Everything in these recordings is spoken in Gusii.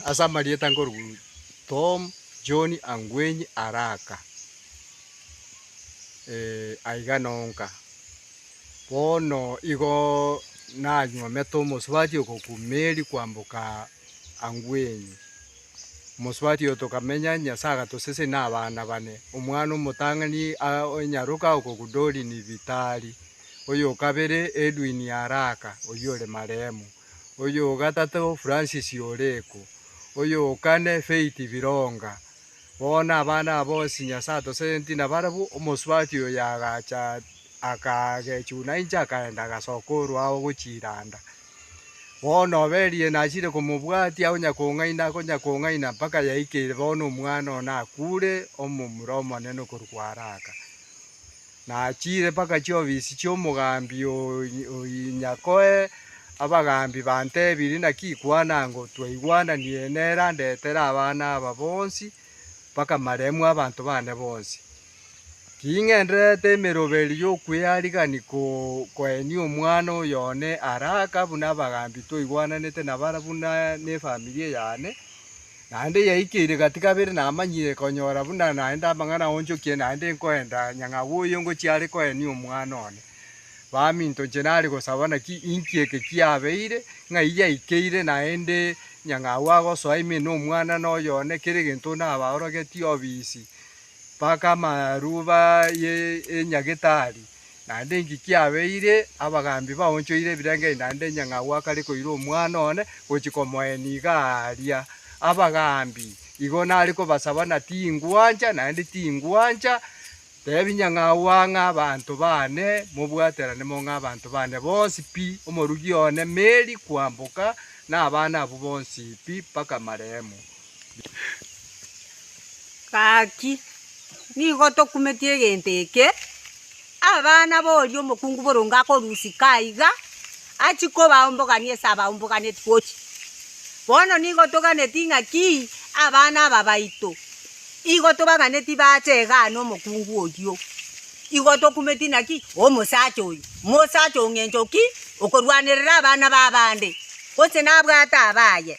ase amarieta nkorokwa Tom, John, Angwenyi, Araka, eh, aiga nonka. Bono igo nanyuomete omosubati ogokwa Meri kwamboka Angwenyi. Omosubati oyo tokamenya, Nyasaye agatosesenia na abana bane, omwana omotang'ani ah o nyaroka okokwa Doreen Bitari, oyo okabere Edwin Araka oyio ore marehemu. Oyogatato Francis Oreko, oyokane Faith Bironga. Bono abana aba bonsi Nyasae atoseseneti nabarabwo omosubati oyo yagacha akagechuna inche akagenda agasoka orwa ao gochia Iranda. Bono obe eriene achire komobwatia onya kong'aina onya kong'aina mpaka yaikeire bono omwana oyo nakure omomura omonene okorwa kwa araka. Nachiire mpaka chiofisi chi'omogambi o inyakoe, abagambi bantebirie, Naki kwana ng'o twaigwananie nere andetere abana aba bonsi mpaka maremu abanto bane bonsi? Ting'endererete emeroberi y'okwea-rigani koenia omwana oyo one araka buna abagambi twaigwananete nabarabwo buna nefamilia yane. Naende yaikeire gati kabere namanyire konyora buna naende amang'ana aonchokie naende nkoenda nyang'au oyo ngochia are koenia omwana one. Baminto inche nare gosaba naki inki eke kiabeire, ng'ai yaikeire naende nyang'au agosoa ime nomwana noyo one kera egento nabaorogetie obisi. mpaka amaruba y'enyagetari, naende inki kiabeire abagaambi baonchoire ebirengererio naende enyang'au akare koira omwana one gochia komoenia iga aaria. Abagaambi igo nare kobasaba na tingwancha naende tingwancha, tebi nyang'au aa ng'a abanto baane, mobwaterane mo ng'a abanto baane bonsi pi, omorugi one Meri kwamboka na abana abwo bonsi pi mpaka maremo. Gaki, nigo tokumetie egento eke, abana boria omokungu boronge akorusia ka iga, achie kobaombogania ase abaomboganeti gocha. Bono nigo toganeti ng'aki abana aba baito, igo tobaganeti bache iga ane omokungu oyio, igo tokumeti naki omosacha oyio, mosacha ong'encho ki? okorwanerera abana ba abande, gose nabwate abaye.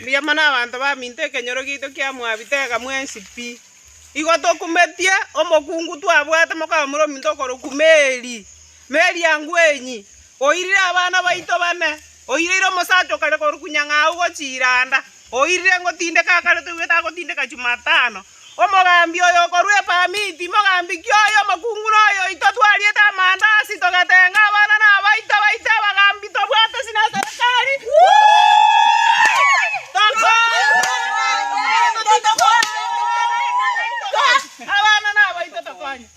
Mbuya mono abanto baminto ekenyoro giaito kia Moabi tega mwensi pi. Igo tokumetie omokungu twabwate mokamura ominto okorokwu Meeli, Meeli angwenyi, oirire abana baito bane, oireire omosacha okare korokwu nyang'au gochia iranda, oirire ngotindeka akare toigwete agotindeka chumatano, Omogambi oyo okorua epamiti, mogambi ki oyo omokungu noyo oito twariete amandasi togatenga abana na abaito baito abagambi tobwate sina eserekari tokonya.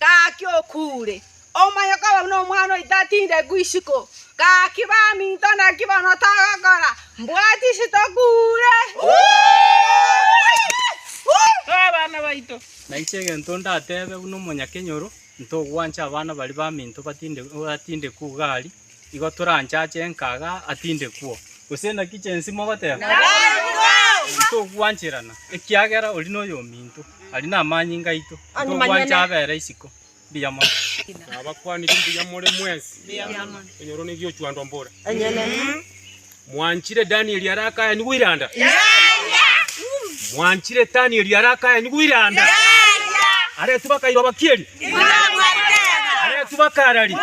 Gaki okuure, omonye okoba buna omwana oito atindekwa isiko. Gaki baminto naki bono togokora, mbwati inche tokuure. Abana baito. Naiche egento ndatebe buna omonyakenyoro, ntogwancha abana baria baminto batinde- batindekwa iga aria. Igo toranchache enkaga atinde kuo. Gose naki chensi mogoteba? Nabaibwa! Titogwancherana, ekiagera oria noyominto, aria namanyinga aito, titogwancha abere isiko. Mbuya mono. Nabakwanire mbuya more mwensi. Mbuya mono. Onye oro negi'ochwando mbore. Enyene. Mwanchire Danieli are akayanigwe iranda? Mwanchire Danieli are akayanigwe iranda? Aretu bakairwa bakieri? Aretu bakarari?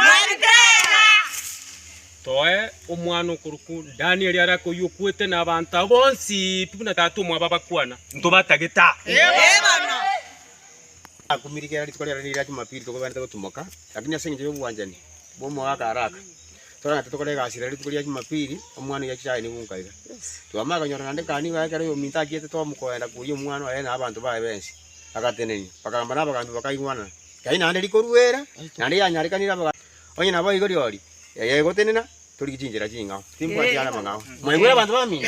Toe omwana okoruku Danieli are akoyia okwete na abanto abo bonsi pi buna tata omwabo abakwana. Ntobatageta. Akumirikia rituko riane riria Jumapili tokobeanete gotimoka, lakini ase engencho y'obwanchani bw'omogaka araka. Toraete tokore egasi ere rituko ria Jumapili, omwana oyio achire aye nigo nka iga. Twamanya konyora naende kani iga ekero oyominto achiete Tom koenda koria omwana oye na abanto baye bensi. Bagatenenia, bakagamba na abagaambi bakaigwanana. Riayi naende rikoruera, naende yanyarekanire abagaambi. Onye naboigo riori, eye egotenena, torigi chinchera ching'ao, timbwati aria amang'ao. Mwaigwire abanto baminto?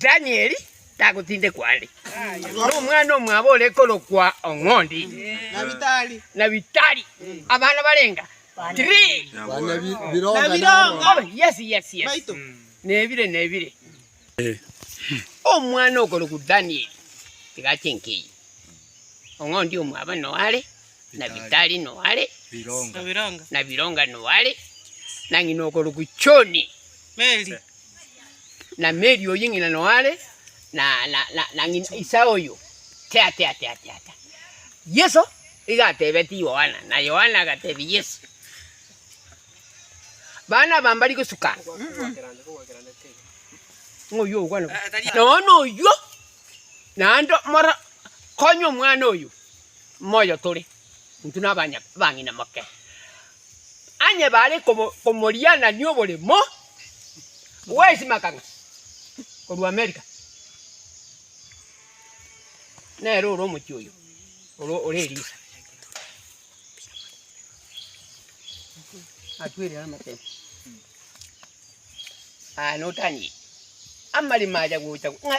Danieli tagotindekwa ande nomwana omwabo ore korokwa Ong'ondi, Nabitali, abana barenga three. Obe, yes, yes, yes. Nebire, nebire. Omwana okorokwa Danieli tiga ache enka eye. Ong'ondi omwabo noare na Vitali noare, na Vironga noare, na ng'ina okorokwa Choni, na Meri oyio ng'ina noare, na ng'ina Isaya oyio. Tea, tea, tea, tea, tea. Yeso iga atebetie Yohana, na Yohana agatebia Yeso, Bana aba mbari gosuka, ng'oyio ogokwana, nonya oyio naende omoro, konya omwana oyio. moyo tore, intwe na abanya bang'ina moke. Anye bare komo komorianania oboremo bw'esimaka ng'a korwa Amerika, nere ore omochie oyo oro ore Elisa. Atwere amatemo. Aya notang'ie amarimo aye gocha ng'a